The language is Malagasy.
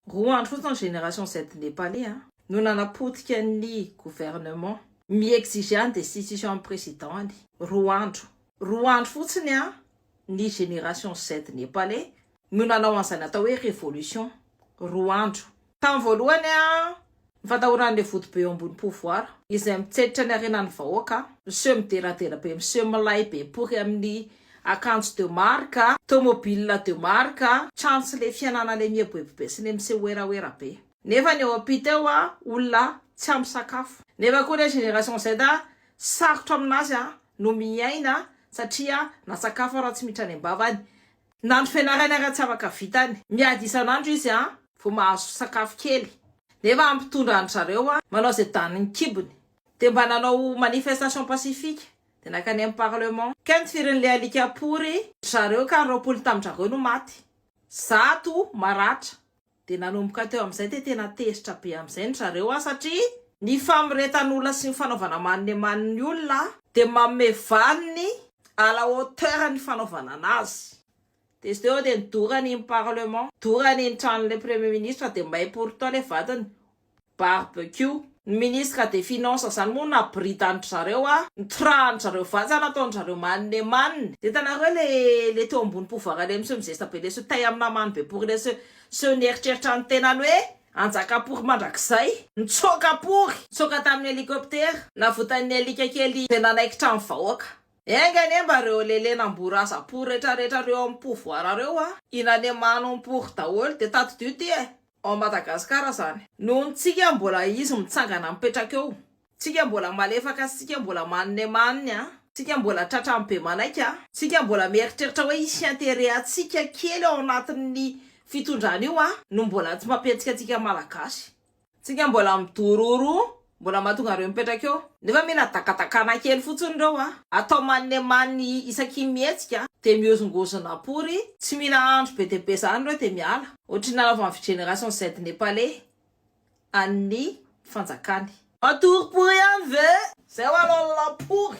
Roa andro fotsiny ny génération Z Nepalais a. No nanapotika ny gouvernement. Mi-exiger ny destitution an'i président any. Roa andro. Roa andro fotsiny a, ny génération Z Nepalais no nanao an'izany atao hoe révolution. Roa andro. Tamin'ny voalohany a, Ny fatahoran'ilay vodobe eo ambony pouvoir. Izay mitseditra ny harenan'ny vahoaka. Miseho mideradera be miseho milay be pory amin'ny akanjo de marque, tomobile de marque, trano sy ilay fianana ilay mieboebobe sy ilay miseho werawera be. Nefa ny eo ampita eo olona tsy ampy sakafo. Nefa koa ilay génération Z sarotra amin'azy no miaina satria na sakafo ara tsy miditra any am-bavany Nandro fianarany ary tsy afaka vitany. Miady isan'andro izy vao mahazo sakafo kely. Nefa hampitondra an-dry zareo manao izay danin'ny kibony. Dia mba nanao manifestation pacifique. Dia nankany amin'ny parlement. Kent firy an'ilay alika pory. Dry zareo ka roapolo tamin-dry zareo no maty. Zato maratra. Dia nanomboka teo amin'izay dia tena tezitra be amin'izay ny zareo an satria. Ny famoretan'olona sy ny fanaovana maninemany ny olona dia manome valiny à la hauteur ny fanaovana anazy. Dia izy teo eo dia nidorany iny parlement, dorany iny tranon'ilay premier ministre dia may pourtant ilay vadiny barbecue. Ny ministre des finances zany moa na britan'dry zareo a, nitorahany zareo vanja nataony zareo manne et manne. Hitanareo le le teo ambony pouvoir le miseho mizesta be le seho tay amina mano be pory le seho seho nieritreritra ny tenany hoe hanjaka pory mandrakizay. Nitsoaka pory, nitsoaka tamin'ny helicoptera, navotan'ny alika kely zay nanaikitra ny vahoaka. Enga anie mba reo lele namboraza pory retraretra reo amin'ny pouvoir reo a, hinane mano ny pory daholo de tadidio ty e. ao Madagascar izany. Noho ny tsika mbola izy mitsangana mipetraka eo, tsika mbola malefaka sy tsika mbola manne manne a, tsika mbola tratra ny be manaiky a, tsika mbola mieritreritra hoe hisy intérêt antsika kely ao anatin'ny fitondrana io a, no mbola tsy mampiantsika antsika Malagasy. Tsika mbola midororo Mbola mahatonga an'ireo mipetraka eo. Nefa mila dakatakana kely fotsiny ireo a! Atao maninemany isakim-mihetsika dia mihozongozona pory, tsy mila andro be dia be izany ireo dia miala. Ohatry ny nanaovan'ny Vigeneration Z Nepaley an'ny fanjakany. Matory pory ihany ve? Izay ho'alalapory!